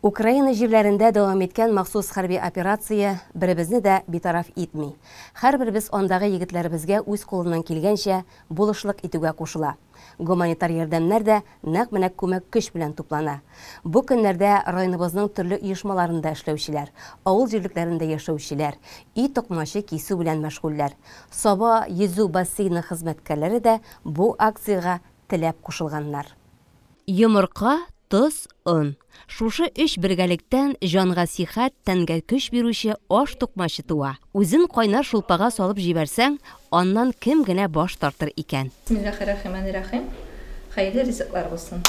Украина җирләрендә дәвам иткән махсус хәрби операция беребезне дә битараф итми. Һәрберебез андагы егетләребезгә үз кулыннан килгәнчә булышлык итүгә кушыла. Гуманитар ярдәмнәр дә нәкъ менә күмәк көч белән туплана. Бу көннәрдә районыбызның төрле оешмаларында эшләүчеләр, авыл җирлекләрендә яшәүчеләр, өй токмачы кисү белән мәшгульләр, Саба йөзү бассейны хезмәткәрләре дә бу акциягә теләп кушылганнар. Йомырка, тоз, он. Шушы өч бергәлектән җанга сихәт, тәнгә көч бирүче аш тукмачы туа. Үзен кайнар шулпага салып җибәрсәң, аннан кем генә баш тартыр икән. Бисмиллахиррахиманиррахим. Хәерле ризыклар булсын.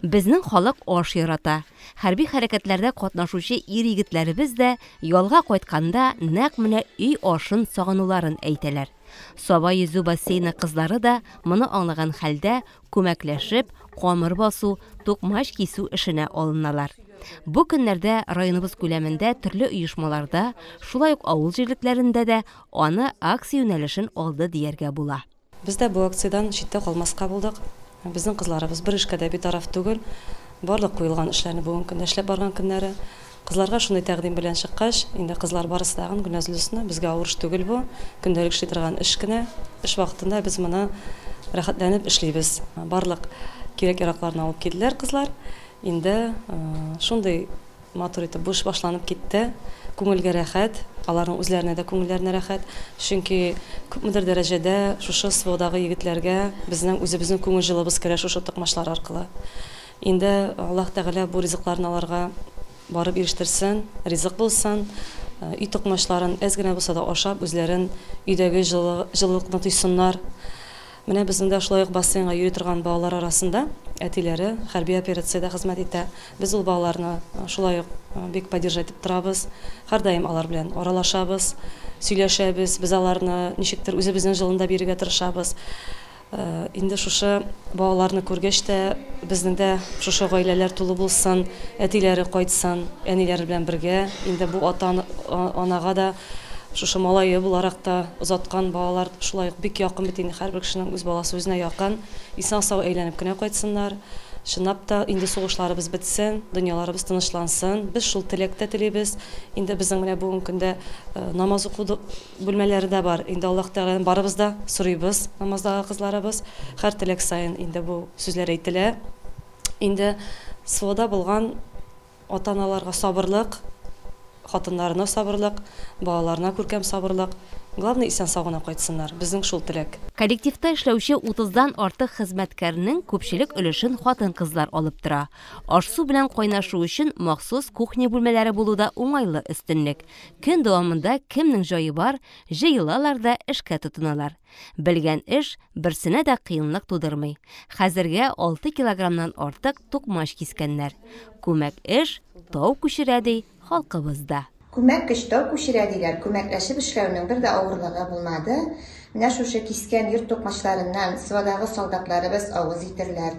Безнең халык аш ярата. Хәрби хәрәкәтләрдә катнашучы ир-егетләребез дә ялга кайтканда нәкъ менә өй ашын сагынуларын әйтәләр. Саба йөзү бассейны кызлары да моны аңлаган хәлдә, күмәкләшеп, камыр басу, тукмач кисү эшенә алыналар. Бу көннәрдә районыбыз күләмендә төрле оешмаларда, шулай ук авыл җирлекләрендә дә аны акция юнәлешен алды дияргә була. Без дә бу акциядән читтә калмаска булдык. Безнең кызларыбыз бер эшкә дә битараф түгел. Барлык куелган эшләрне бүгенге көндә эшләп барган көннәре. Кызларга шундый тәкъдим белән чыккач, инде кызлар барысы да ягын Гөлназлысны, безгә авыр эш түгел бу, көндәлек эшли торган эш кенә, эш вакытында без моны рәхәтләнеп эшлибез. Барлык кирәк-яракларны алып килделәр кызлар. Инде шундый. Матур итеп бу эш башланып китте. Күңелгә рәхәт, аларның үзләренә дә күңелләренә рәхәт. Чөнки күпмедер дәрәҗәдә шушы СВОдагы егетләргә безнең үзебезнең күңел җылыбыз керә шушы токмачлар аркылы. Инде Аллаһ Тәгалә бу ризыкларны аларга барып ирештерсен, ризык булсын, өй токмачларын әз генә булса да ашап, үзләрен өйдәге җылылыкны тойсыннар. Менә безнең дә шулай ук бассейнга йөри торган балалар арасында әтиләре хәрби операциядә хезмәт итә. Без ул балаларны шулай ук бик поддержать итеп торабыз. Һәрдаим алар белән аралашабыз, сөйләшәбез. Без аларны ничектер үзебезнең җылында бирергә тырышабыз. Инде шушы балаларны күргәч тә, безнең дә шушы гаиләләр тулы булсын, әтиләре кайтсын, әниләре белән бергә. Инде бу ата-анага да Шушы малае буларак та озаткан балалар шулай ук бик якын бит инде, һәрбер кешенең үз баласы үзенә якын. Исән-сау әйләнеп кенә кайтсыннар. Чынлап та, инде сугышларыбыз бетсен, дөньяларыбыз тынычлансын. Без шул теләк тә телибез. Инде безнең менә бүгенге көндә намаз уку бүлмәләре дә бар. Инде Аллаһ Тәгаләдән барыбыз да сорыйбыз, намаздагы кызларыбыз. Һәр теләк саен инде бу сүзләр әйтелә. Инде СВОда булган Ата-аналарга сабырлык, хатыннарына сабырлык, балаларына күркәм сабырлык, главное исән-сау гына кайтсыннар, безнең шул теләк. Коллективта эшләүче утыздан артык хезмәткәрнең күпчелек өлешен хатын-кызлар алып тора. Аш-су белән кайнашу өчен махсус кухня бүлмәләре булу да уңайлы өстенлек. Көн дәвамында кемнең җае бар, җыелалар да эшкә тотыналар. Белгән эш берсенә дә кыенлык тудырмый. Хәзергә 6 килограммнан артык тукмач кискәннәр. Күмәк эш тау күчерә, ди халкыбыз да. Күмәк көч тау күчерә, диләр. Күмәкләшеп эшләүнең бер дә авырлыгы булмады. Менә шушы кискән йорт тукмачларыннан Свадагы солдатларыбыз авыз итерләр,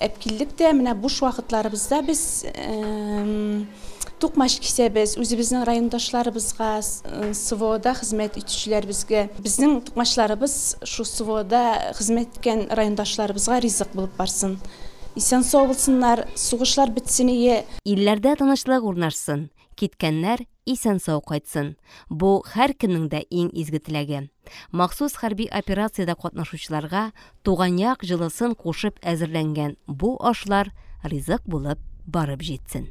Әпкилдек тә менә буш вакытларыбызда без тукмач кисәбез, үзебезнең райондашларыбызга, СВОда хезмәт итүчеләребезгә. Безнең тукмачларыбыз шул СВОда хезмәт иткән райондашларыбызга ризык булып барсын. Исән-сау булсыннар, сугышлар бетсен ие. Илләрдә тынычлык урнашсын, Киткәннәр исән-сау кайтсын. Бу һәркемнең дә иң изге теләге. Махсус хәрби операциядә катнашучыларга туган як җылысын кушып әзерләнгән бу ашлар ризык булып барып җитсен.